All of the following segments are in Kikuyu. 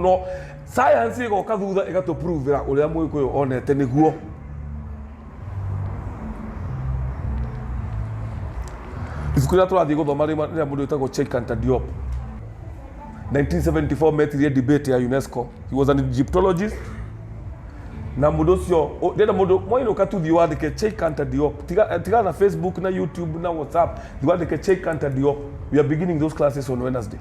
no science ĩgoka thutha ĩgatũpuruvĩra ũrĩa mũgĩkũyũ onete nĩguo ibuku rĩrĩa tũrathiĩ gũthoma rĩma- rĩrĩa mũndũ wĩtagwo Cheikanta Diop 1974 metirie debate ya UNESCO he was an Egyptologist na mũndũ ũcio ũ- ndĩna mũndũ mwainũka tu thiĩ wandĩke Cheikanta Diop tiga eh, tiga na Facebook na YouTube na WhatsApp thiĩ wandĩke Cheikanta Diop we are beginning those classes on Wednesday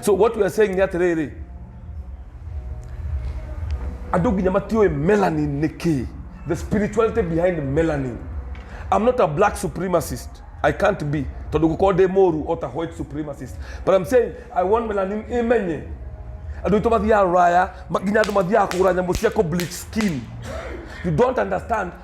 so what we are saying ni atĩrĩrĩ andũ nginya matiũĩ melanin nĩ kĩĩ the spirituality behind melanin i'm not a black supremacist i can't be tondũ gũkorwo ndĩ mũru o ta white supremacist but i'm saying i want melanin ĩmenye andå aitå mathiaga ruraya ma- nginya andå mathiaga kå gå ra nyamå cia kå bleach skin you don't understand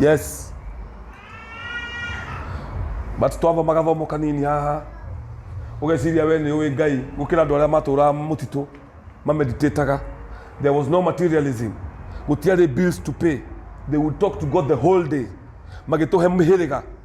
yes but twamba magathomo kanini haha ũgeciria we nĩ ũĩ ngai gũkĩra andũ arĩa matũraga mũtitũ mameditataga there was no materialism gũtiarĩ bills to pay they would talk to god the whole day magĩtũhe mĩhĩrĩga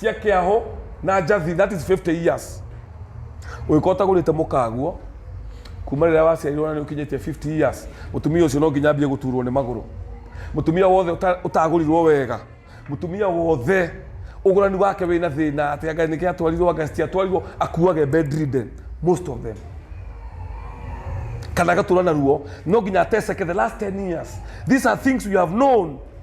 cia kĩaho na njathi that is 50 years ũngĩkorwo ũtagũrĩte mũkaguo kuma rĩrĩa waciarirwo na nĩ ũkinyĩtie 50 years mũtumia ũcio no nginya ambie gũturwo nĩ magũrũ mũtumia wothe ũta- ũtagũrirwo wega mũtumia wothe ũgũrani wake wĩna thĩna atĩ anga nĩkĩ atwarirwo anga citiatwarirwo akuage bedridden most of them kana agatũra na ruo no nginya ateseke the last 10 years these are things we have known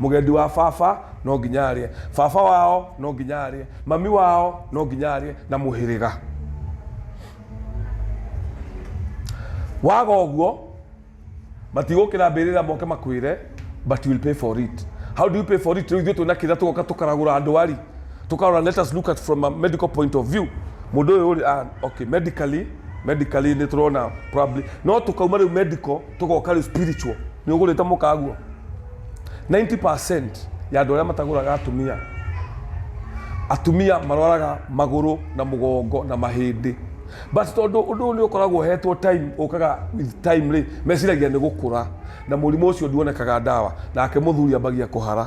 Mũgendi wa baba no nginya arĩe. Baba wao no nginya arĩe. Mami wao no nginya arĩe. Na mũhĩrĩga. Waga ũguo, matigũkĩra mbĩrĩra moke makwĩre, but you will pay for it. How do you pay for it? Rĩu ithuĩ twĩna kĩrĩa tũgoka tũkaragũra ndwari. Tũkarora let us look at from a medical point of view. Mũndũ ũyũ rĩ, ah, okay, medically, medically nĩ tũrona probably. No tũkauma rĩu medical, tũgoka rĩu spiritual nĩ ũgũrĩte mũkaguo 90% ya andũ arĩa matagũraga atumia atumia marwaraga magũrũ na mũgongo na mahĩndĩ but tondũ ũndũ ũyũ nĩ ũkoragwo ũhetwo time ũkaga with time rĩ meciragia nĩ gũkũra na mũrimũ ũcio nduonekaga ndawa nake mũthuri ambagia kũhara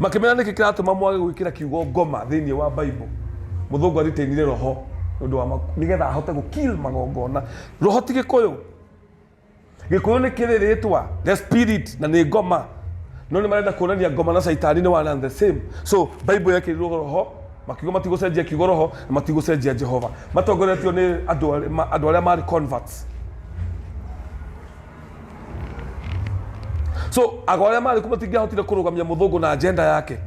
makĩmera nĩkĩ kĩratũma mwage gwĩkĩra kiugo ngoma thĩinĩ wa bible mũthũngũ aritainire roho nĩ ũndũ wa ma- nĩgetha ahote gũkill magongona roho ti gĩkũyũ gĩkũyũ nĩ kĩrĩ rĩtwa the spirit na nĩ ngoma no nĩ marenda kuonania ngoma na caitani nĩ one and the same so bible yekĩrirwo roho makiugo matigũcenjia kiugo roho na matigũcenjia jehova matongoretio nĩ andũ arĩa- ma- andũ arĩa marĩ converts so ago arĩa marĩ kuo matingĩahotire kũrũgamia mũthũngũ na agenda yake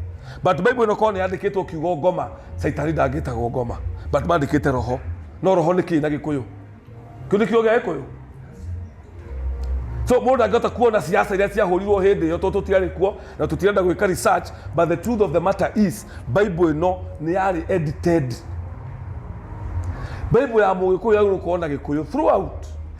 but bible ĩno korwo nĩ yandĩkĩtwo kiugo ngoma caitani ndangĩtagwo ngoma but mandĩkĩte roho no roho nĩ kĩĩ na gĩkũyũ kĩu nĩ kiugo gĩa gĩkũyũ so mũndũ angĩhota kuona ciaca iria ciahũrirwo hĩndĩ ĩyo tondũ tũtiarĩ kuo na tũtirenda gwĩka research but the truth of the matter is bible ĩno nĩ yarĩ edited bible ya mũgĩkũyũ yagĩrĩirwo gũkorwo na gĩkũyũ throughout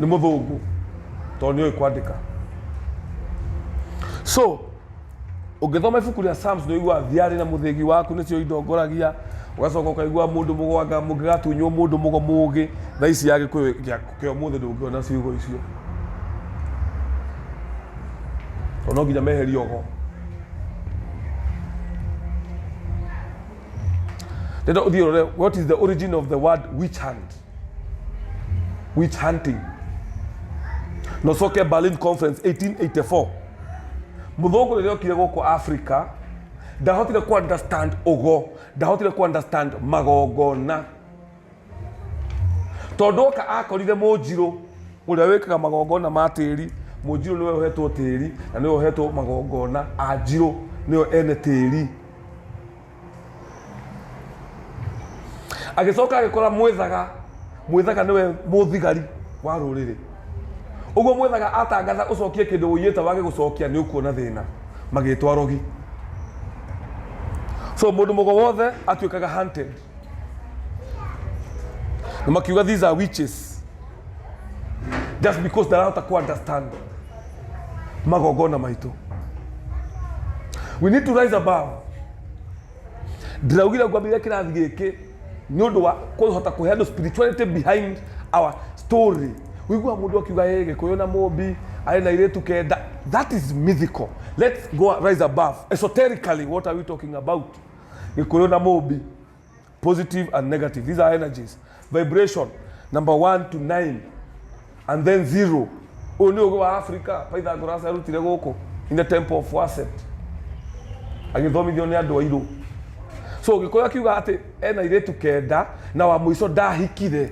nĩ mũthũngũ tondũ nĩoĩ kwandĩka so ũngĩthoma ibuku rĩa Psalms nĩ ũiguaga thiarĩ na mũthĩgi waku nĩcio indongoragia ũgacoka ũkaigua mũndũ mũgwanga mũngĩgatunywo mũndũ mũgo mũgĩ na ici ya gĩkũyũ gĩa- kĩa ũmũthĩ ndũngĩona ciugo icio tondũ no nginya meherie ogo nenda ũthiĩ ũrore what is the origin of the word witch hand witch hunting nocoke berlin conference 1884 muthũngũ rĩrĩa okire gũkũ africa ndahotire ku understand ũgo ndahotire ku understand magongona tondũ oka akorire mũnjirũ ũrĩa wĩkaga magongona ma tĩri mũnjirũ nĩwe ũhetwo tĩri na nĩwe ũhetwo magongona anjirũ nĩyo ene tĩri agĩcoka agĩkora mwĩthaga mwĩthaga nĩwe mũthigari wa rũrĩrĩ ũguo mwĩthaga atangatha ũcokie kĩndũ ũiyĩte wage gũcokia nĩ ũkuona thĩna magĩtwa rogi so mũndũ mũgo wothe atuĩkaga hunted na makiuga these are witches just because ndarahota ku understand magongona maitũ we need to rise above ndĩraugire ngwambĩrĩria kĩrathi gĩkĩ nĩ ũndũ wa kũhota kũhe andũ spirituality behind our story wĩigua mũndũ akiuga ĩ gĩkũyũ na mũmbi arĩ na irĩtu kenda that is mythical let's go rise above esoterically what are we talking about gĩkũyũ na mũmbi positive and negative. These are energies. Vibration, number one to nine, and then zero. Ũyũ nĩ ũgĩ wa Africa, Pythagoras arutire gũkũ in the temple of Waset. Agĩthomithio nĩ andũ airũ. So Gĩkũyũ akiuga atĩ ena airĩtu kenda na wa mũico ndahikire.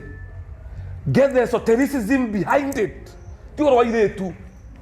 Get the esotericism behind it. Ti ũhoro wa airĩtu.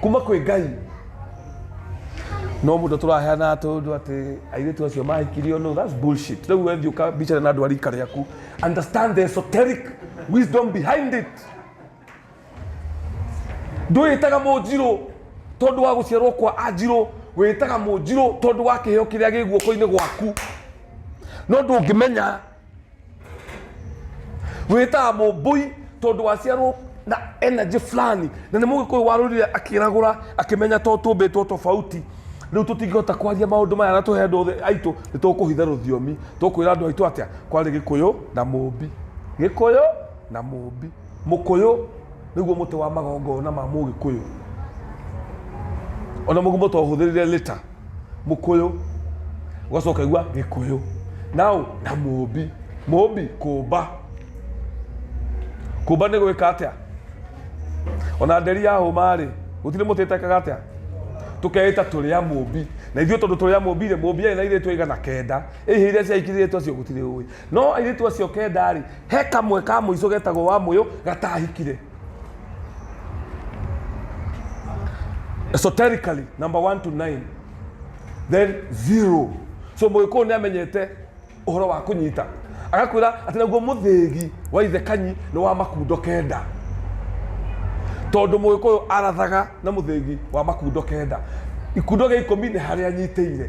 kuma kwĩ ngai no må ndå tå raheana tå ndå atä airä tu acio mahikirio no that's bullshit rä u wethi å ka mbicana na andå a rika rä aku understand the esoteric wisdom behind it ndwĩtaga mũnjirũ tondũ wa gũciarwo kwa anjirũ wĩtaga mũnjirũ tondũ wa kĩheo kĩrĩa gĩ guoko-inĩ gwaku no ndũngĩmenya wĩtaga mũmbũi tondũ waciarwo na energy fulani na nĩ mũgĩkũyũ warũrire akĩragũra akĩmenya to tũmbĩtwo tofauti rĩu tũtingĩhota kwaria maũndũ maya na tũhe andũ othe aitũ nĩ tũkũhitha rũthiomi tũkwĩra andũ aitũ atĩa kwarĩ gĩkũyũ na mũmbi gĩkũyũ na mũmbi mũkũyũ nĩguo mũtĩ wa magongona ma mũgĩkũyũ ona mũgumo twahũthĩrire lĩta mũkũyũ ũgacoka ũkaigua gĩkũyũ now na mũmbi mũmbi kũmba kũmba nĩ gwĩka atĩa ona nderi ya hũma rĩ gũtirĩ mũtĩ ĩtekaga atĩa tũkeĩta tũrĩ a mũmbi na ithuĩ tondũ tũrĩ a mũmbi rĩ mũmbi arĩ na irĩtu aigana kenda ĩhĩ iria ciahikirĩtu acio gũtirĩ ũĩ no airĩtu acio kenda rĩ he kamwe ka mũico getagwo wa mũyũ gatahikire esoterically number one to nine then zero so mũgĩkũyũ nĩ amenyete ũhoro wa kũnyita agakwĩra atĩ naguo mũthĩgi wa ithe kanyi nĩ wa makundo kenda tondũ mũgĩkũyũ arathaga na mũthĩgi wa makundo kenda ikundo gĩa ikũmi nĩ harĩa anyitĩire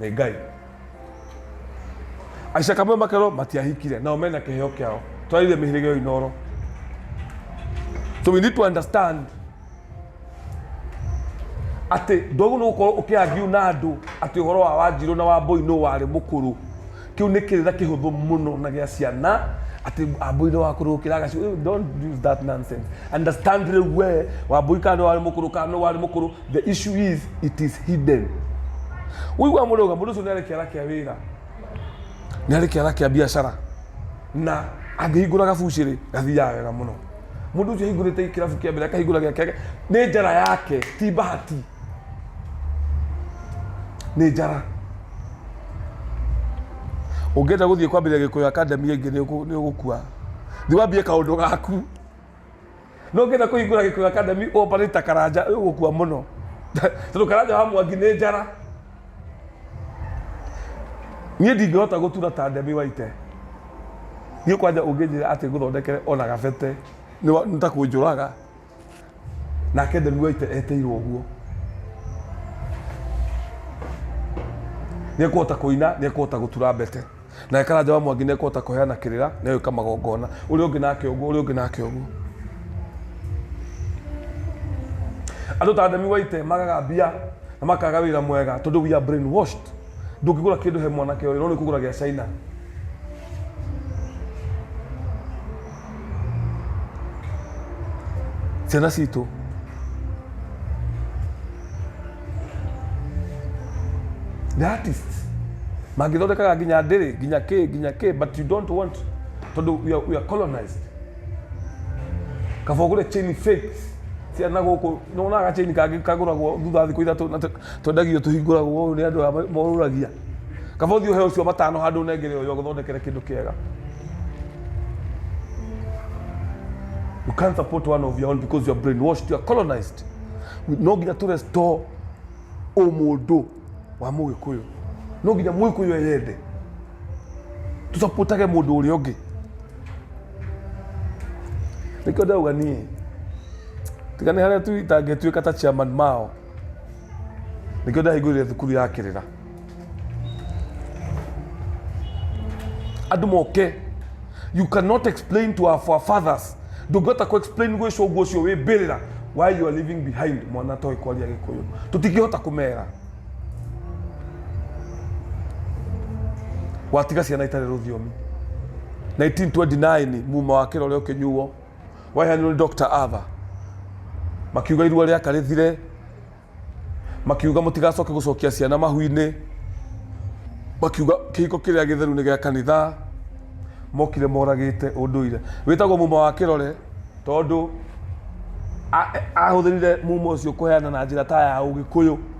nĩ ngai aicaka mwe makerwo matiahikire nao mena kĩheo kĩao twarĩire mĩhĩrĩga ĩyo inoro so we need to understand atĩ ndogu nĩ gũkorwo ũkĩangiu na andũ atĩ ũhoro wa wanjirũ na wambũi nũ warĩ mũkũrũ kĩu nĩ kĩrĩra kĩhũthũ mũno na gĩa ciana atĩ wambũi nĩ wakũrũ gũkĩra agacigo don't use that nonsense understand rĩu we wambũi kana nĩ warĩ mũkũrũ kana nũ warĩ mũkũrũ the issue is it is hidden wĩigua mũndũ auga mũndũ ũcio nĩ arĩ kĩara kĩa wĩra nĩ arĩ kĩara kĩa biacara na angĩhingũra gabucĩrĩ gathiaga wega mũno mũndũ ũcio ahingũrĩte kĩrabu kĩa mbere akahingũra gĩake nĩ njara yake ti bahati nĩ njara ũngĩenda gũthiĩ kwambĩrĩria gĩkũyũ akademi ĩngĩ nĩ ũgũ- nĩ ũgũkua thiĩ wambie kaũndũ gaku no ngenda kuhingura gikuyu academy operate ta karanja uyu gukua muno tondu karanja wa mwangi ni njara nie ndingihota gutura ta ndemi waite nie kwanja unginjira ati nguthondekere ona gabete ni wa- ni ta kunjuraga nake ndemi waite eteirwo uguo nä ekåhota kå ina nä ekåhota gå tura mbete Nake Karanja wa Mwangi nĩekũhota kũheana kĩrĩra, nĩegwĩka magongona. Ũrĩa ũngĩ nake ũguo, ũrĩa ũngĩ nake ũguo. Andũ ta Demi Waite magaga mbia na makaga wĩra mwega tondũ we are brainwashed. Ndũngĩgũra kĩndũ he mwanake ũyũ, no nĩkũgũra gĩa China. Tenacito. The artists. Magithondekaga nginya ndĩrĩ, nginya kĩ, nginya kĩ, but you don't want tondũ we are, we are colonized. Kaba ũgũre chain fake cia na gũkũ, nĩ wonaga chain kangĩ kagũragwo thutha wa thikũ ithatũ na te- Twendagio tũhingũragwo ũũ nĩ andũ aya morũragia. Kaba ũthiĩ ũheo ũcio matano handũ ũnengere ũyũ agũthondekere kĩndũ kĩega. You can't support one of your own because you are brainwashed, you are colonized. No nginya tũ restore ũmũndũ wa mũgĩkũyũ. No nginya mũgĩkũyũ eyende. Tũsapotage mũndũ ũrĩa ũngĩ. Nĩkĩo ndauga niĩ tiga nĩ harĩa tu itangĩtuĩka ta chairman mao nĩkĩo ndahingũrire thukuru ya kĩrĩra andũ moke you cannot explain to our forefathers ndũngĩhota kũ explain gwĩ cũngũ ũcio wĩ mbĩrĩra why you are leaving behind mwana toĩ kwaria gĩkũyũ tũtingĩhota kũmera watiga ciana itarĩ rũthiomi 1929 muma wa kĩra ũrĩa ũkĩnyuo waheanirwo nĩ Dr. Ava makiuga irua rĩaka rĩthire makiuga mũtigacoke gũcokia ciana mahu-inĩ makiuga kĩhiko kĩrĩa gĩtheru nĩ gĩa kanitha mokire moragĩte ũndũire wĩtagwo muma wa kĩrore tondũ a- ahũthĩrire muma ũcio kũheana na njĩra ta ya ũgĩkũyũ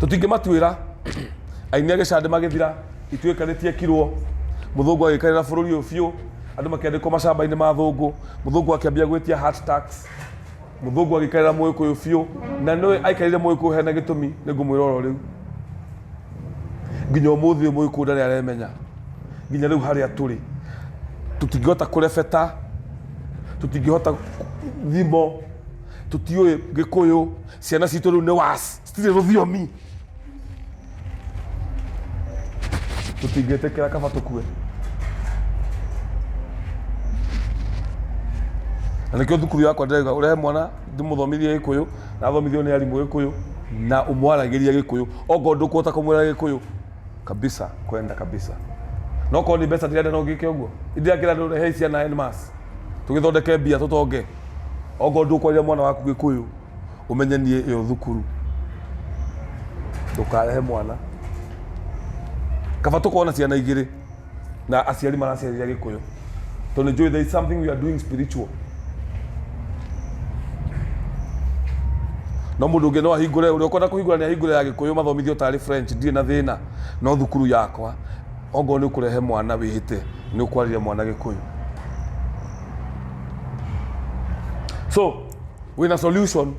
tũtingĩ matuĩra aini a gĩcandĩ magĩthira ituĩkanĩtie kirwo mũthũngũ agĩkarĩra bũrũri ũyũ biũ andũ makĩandĩkwo macamba-inĩ ma thũngũ mũthũngũ akĩambia gwĩtia heart tax mũthũngũ agĩkarĩra mũgĩkũyũ biũ na nĩwe aikarĩire mũgĩkũyũ hena gĩtũmi nĩ ngũmwĩra oro rĩu nginya ũmũthĩ ũyũ mũgĩkũyũ ndarĩ aremenya nginya rĩu harĩa tũrĩ tũtingĩhota kũrebeta tũtingĩhota thimo tũtiũĩ gĩkũyũ ciana citũ rĩu nĩ was citirĩ rũthiomi tũtingĩtĩkĩra kaba tũkue na nĩkĩo thukuru yakwa ndĩrauga ũrehe mwana ndĩmũthomithie gĩkũyũ na athomithio nĩ arimũ gĩkũyũ na ũmwaragĩria gĩkũyũ okorwo ndũkũhota kũmwĩra gĩkũyũ kabisa kwenda kabisa no korwo nĩ mbeca ndirenda no ngĩke ũguo ndirenda kĩra andũ rehe ciana en mass tũgĩthondeke mbia tũtonge okorwo ndũkwarĩria mwana waku gĩkũyũ ũmenye niĩ ĩyo thukuru ndũkarehe mwana kaba tũkorwo na ciana igĩrĩ na aciari maraciarĩria gĩkũyũ tondũ njũĩ there is something we are doing spiritual no mũndũ ũngĩ no ahingũre ũrĩa ũkwenda kũhingũra nĩ ahingũre ya gĩkũyũ mathomithio tarĩ french ndirĩ na thĩna no thukuru yakwa Ongorwo nĩ ũkũrehe mwana wĩhĩte nĩ ũkwarĩria mwana gĩkũyũ. So, wĩna solution.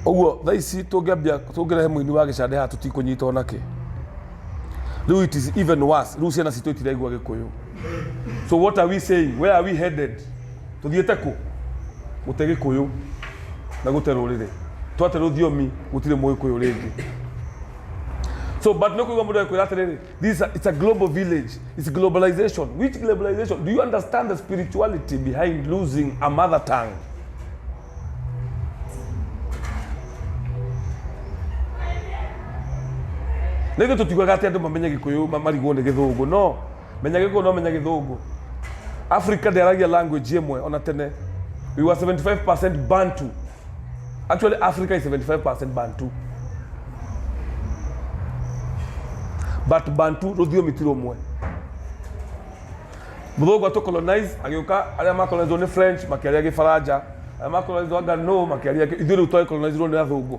Ũguo thaa ici tũngĩambia tũngĩrehe mũini wa gĩcande haha tũtikũnyitwo nakĩ. Rĩu it is even worse. Rĩu ciana citũ itiraigua gĩkũyũ. So what are we saying? Where are we headed? tuthiĩte kũ gũte gĩkũyũ na gũte rũrĩrĩ twate rũthiomi gũtirĩ mũgĩkũyũ rĩngĩ so but no kuigua mũndũ akwĩra atĩrĩrĩ this is a, it's a global village it's globalization which globalization do you understand the spirituality behind losing a mother tongue nä ithuä tå tiugaga atä andå mamenye gä kå yå marigwo nä gä thå ngå no menya gĩkũyũ no menya gĩthũngũ africa ndĩaragia language ĩmwe ona tene we were 75 bantu actually africa is 75 bantu but bantu rũthiomi ti rũmwe mũthũngũ atũ colonize agĩũka arĩa macolonizwo nĩ french makĩaria gĩfaranja arĩa macolonizwo anga no makĩaria gĩ- ithuĩ rĩu twacolonizirwo nĩ athũngũ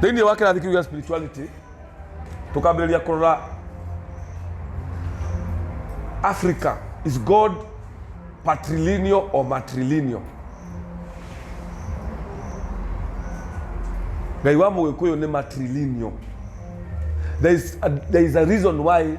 thĩinĩ wa kĩrathi kĩu gĩa spirituality tũkambĩrĩria kũrora africa is god patrilineal or matrilineal ngai wa mũgĩkũyũ nĩ matrilineal there is a, there is a reason why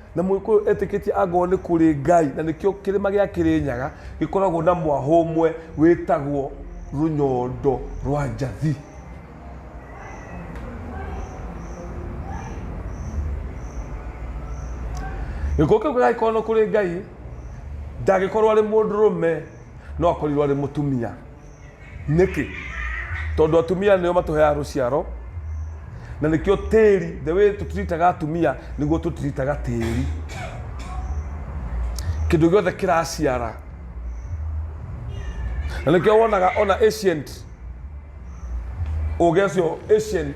Na Mũgĩkũyũ etĩkĩtie angorwo nĩ kũrĩ Ngai, na nĩkĩo kĩrĩma gĩa Kĩrĩnyaga gĩkoragwo na mwahũ ũmwe wĩtagwo rũnyondo rwa njathi. Gĩkũyũ kĩu gagĩkorwo nĩ kũrĩ Ngai, ndagĩkorwo arĩ mũndũrũme, no akorirwo arĩ mũtumia. nĩkĩ tondũ atumia nĩo matũheaga rũciaro na nĩkĩo tĩri the way tũtiritaga atumia nĩguo tũtiritaga tĩri kĩndũ gĩothe kĩraciara na nĩkĩo wonaga ona ancient ũgĩ ũcio ancient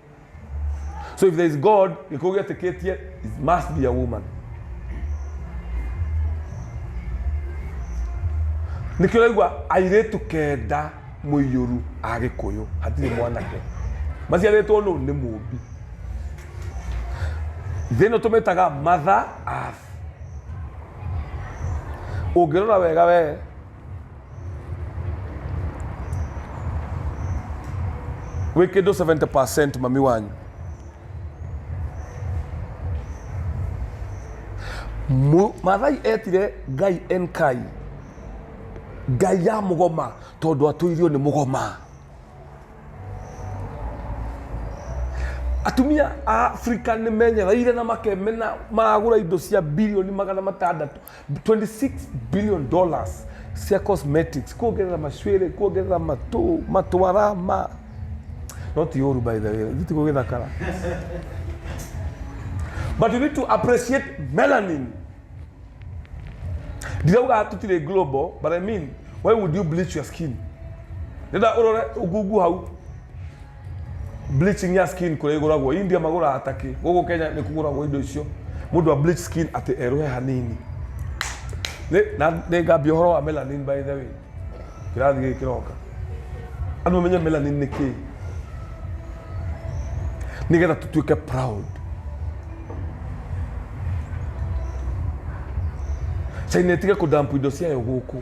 So if there is God, you go get a kid here, it must be a woman. nikio raigua airĩtu kenda mũiyũru a gĩkũyũ hatirĩ mwanake maciarĩtwo nũ nĩ mũmbi thĩ ĩno tũmĩtaga matha abu ũngĩrora wega wee wekedo 70 mami wanyu Mu- mathai etire ngai enkai ngai ya mũgoma tondũ atũirio nĩ mũgoma atumia a afrika nĩ menyereire na makemena magũra indo cia bilioni magana matandatũ 26 billion dollars cia cosmetics kuongerera macwĩrĩ kuongerera matũ matwara ma no ti ũru by the way ithuĩ ti gũgĩthakara but you need to appreciate melanin ndirauga tũtirĩ global but i mean why would you bleach your skin nenda ũrore ngungu hau Bleaching ya skin kũrĩa igũragwo India magũraga takĩ. Gũkũ Kenya nĩ kũgũragwo indo icio. Mũndũ a bleach skin atĩ erũhe hanini. Nĩ na nĩ ngambia ũhoro wa melanin by the way. Kĩrathi gĩkĩ kĩroka. Andũ mamenye melanin nĩ kĩĩ. Nĩgetha tũtuĩke proud. China ĩtige kũdump indo ciayo gũkũ.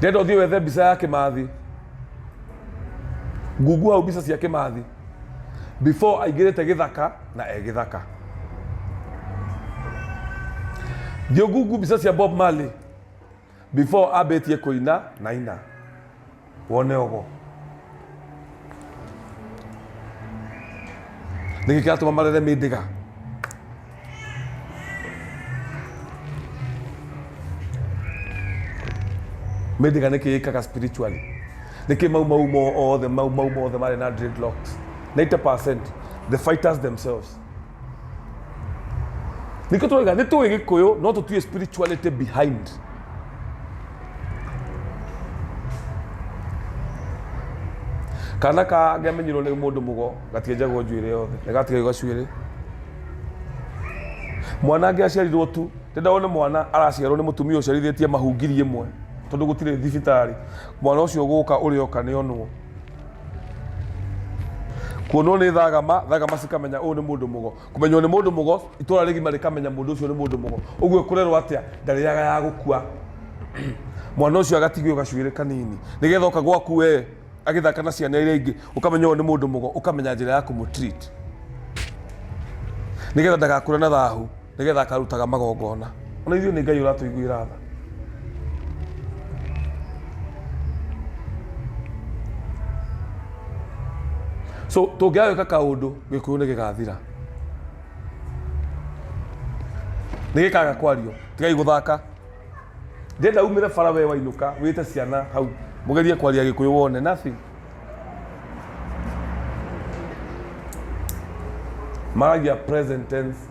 ndĩrenda ũthiĩ wethe mbica ya kĩmathi ngungu hau mbica cia kĩmathi before aingĩrĩte gĩthaka na e gĩthaka thiĩ ngungu mbica cia bob marley before ambĩtie kũina na ina wone ũgo nĩkĩ kĩratũma marere mĩndĩga mĩndĩga nĩkĩ yĩkaga spiritually nĩkĩ mau mau mothe mau mau mothe marĩ na dreadlocks 90 the fighters themselves nĩkĩo twaiga nĩ tũĩ gĩkũyũ no tũtiĩ spirituality behind kana kangamenyirwo nĩ mũndũ mũgo gatienjagwo njuĩrĩ yothe nĩ gatigagio gacuĩrĩ mwana angĩ aciarirwo tu ndĩndawone mwana araciarwo nĩ mũtumia ũciarithĩtie mahungiri ĩmwe tondũ gũtirĩ thibitarĩ mwana ũcio gũka ũrĩoka nĩ onwo kuonwo nĩ thagama thagama cikamenya ũyũ nĩ mũndũ mũgo kũmenywo nĩ mũndũ mũgo itũra rĩgima rĩkamenya mũndũ ũcio nĩ mũndũ mũgo ũguo kũrerwo atĩa ndarĩaga ya gũkua mwana ũcio agatigio gacuĩrĩ kanini nĩgetha oka gwaku we agĩthaka na ciana iria ingĩ ũkamenya ũyũ nĩ mũndũ mũgo ũkamenya njĩra ya kũmũtreat nĩgetha ndagakũre na thahu Nĩgeetha akarutaga magongoona. O na ithuĩ nĩ Ngai ũratũiguĩra tha. So, tũngĩaga gwĩka kaũndũ, Gĩkũyũ nĩ gĩgaathira. Nĩ gĩkaaga kwario. Tigai gũthaaka. Ndĩrenda uumĩre bara wee wainũka, wĩĩte ciana hau, mũgerie kwaria Gĩkũyũ wone. Nothing. Maragia present tense.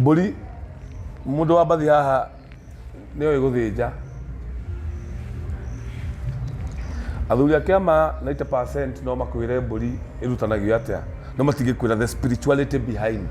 Mbũri, mũndũ wa mbathi haha nĩ oĩ gũthĩnja. Athuri a kĩama 90% no makwĩre mbũri ĩrutanagio atĩa, no matingĩkwĩra the spirituality behind.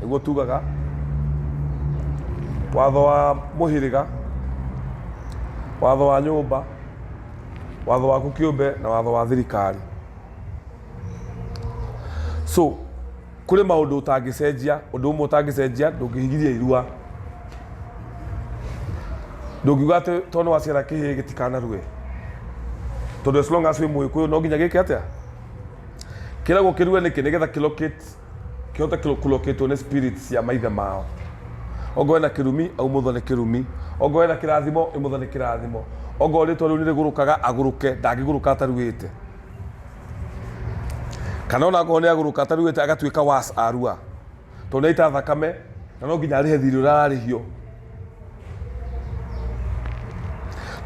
nĩguo tugaga watho wa mũhĩrĩga watho wa nyũmba watho waku kĩũmbe na watho wa thirikari so kũrĩ maũndũ ũtangĩcenjia ũndũ ũmwe ũtangĩcenjia ndũngĩhigithia irua ndũngiuga atĩ tondũ waciara kĩhĩ gĩtikanarue tondũ as long as wĩ mũgĩkũyũ no nginya gĩke atĩa kĩragwo kĩrue nĩkĩ nĩgetha kĩlocate kĩhote kũlokĩtwo nĩ spirit cia maithe mao ongorwo wĩna kĩrumi aumũthwo nĩ kĩrumi ongorwo wĩna kĩrathimo ĩmũthwo nĩ kĩrathimo ongorwo rĩtwa rĩu nĩrĩgũrũkaga agũrũke ndangĩgũrũka ataruĩte kana ona ngorwo nĩagũrũka ataruĩte agatuĩka was arua tondũ nĩaita thakame na no nginya arĩhe thirĩ ũrĩa ararĩhio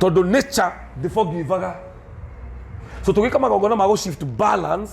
tondũ nature ndĩbogivaga so tũgĩka magongona ma gũ shift balance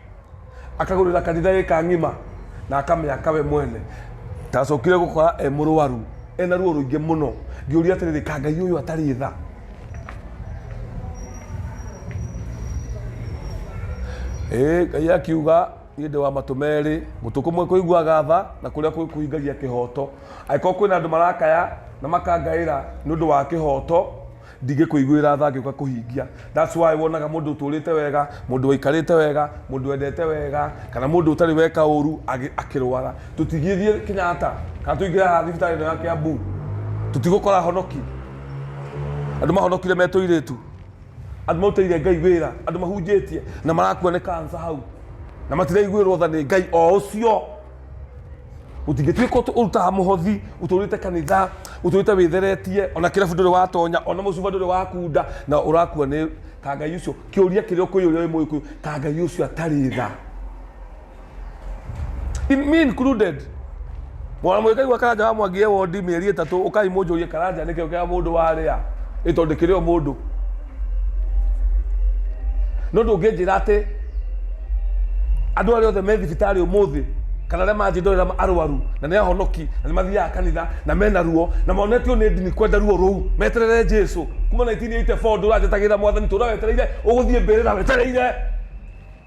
akagũrĩra kanitha ĩka ng'ima na akamĩaka we mwene ndacokire gũkora e mũrwaru ena ruo rũingĩ mũno ngĩũria atĩrĩrĩ ka ngai ũyũ atarĩ tha Ĩĩ, ngai akiuga niĩ ndĩ wa matũ merĩ mũtũ kũmwe kũiguaga tha na kũrĩa kũngĩ kũhingagia kĩhoto angĩkorwo kwĩna andũ marakaya na makangaĩra nĩ ũndũ wa kĩhoto ndingĩkũiguĩra tha ngĩũka kũhingia that's why wonaga mũndũ ũtũrĩte wega mũndũ waikarĩte wega mũndũ wendete wega kana mũndũ ũtarĩ weka ũru agĩ- akĩrwara tũtigĩthiĩ kenyatta kana tũingĩre haha thibitarĩ ĩno ya kiambu tũtigũkora honoki andũ mahonokire me tũirĩtu andũ marutĩire ngai wĩra andũ mahunjĩtie na marakua nĩ kansa hau na matiraiguĩrwo tha nĩ ngai o ũcio utingĩtuĩka ũtũ- ũrutaga mũhothi ũtũrĩte kanitha ũtũrĩte wĩtheretie ona kĩrabu ndũrĩ watonya ona mũcuba ndũrĩ wakunda na ũrakua nĩ ta ngai ũcio kĩũria kĩrĩa ũkũyũ ũrĩa wĩ mũgĩkũyũ ta ngai ũcio atarĩ tha In- me included mwana mwĩkai wa karanja wa mwangie wondi mĩeri ĩtatũ ũkai mũnjũrie karanja nĩkĩo kĩa mũndũ warĩa ĩtondĩkĩrĩo mũndũ no ndũngĩnjĩra atĩ andũ arĩa othe me thibitarĩ ũmũthĩ kana arĩa manjĩ ndorera arwaru na nĩ ahonoki na nĩ mathiaga kanitha na mena ruo na monetio nĩ ndini kwenda ruo rũu meterere jesu kuma 1984 ndũranjĩtagĩrĩra mwathani tũra wetereire ũgũthiĩ mbĩrĩra wetereire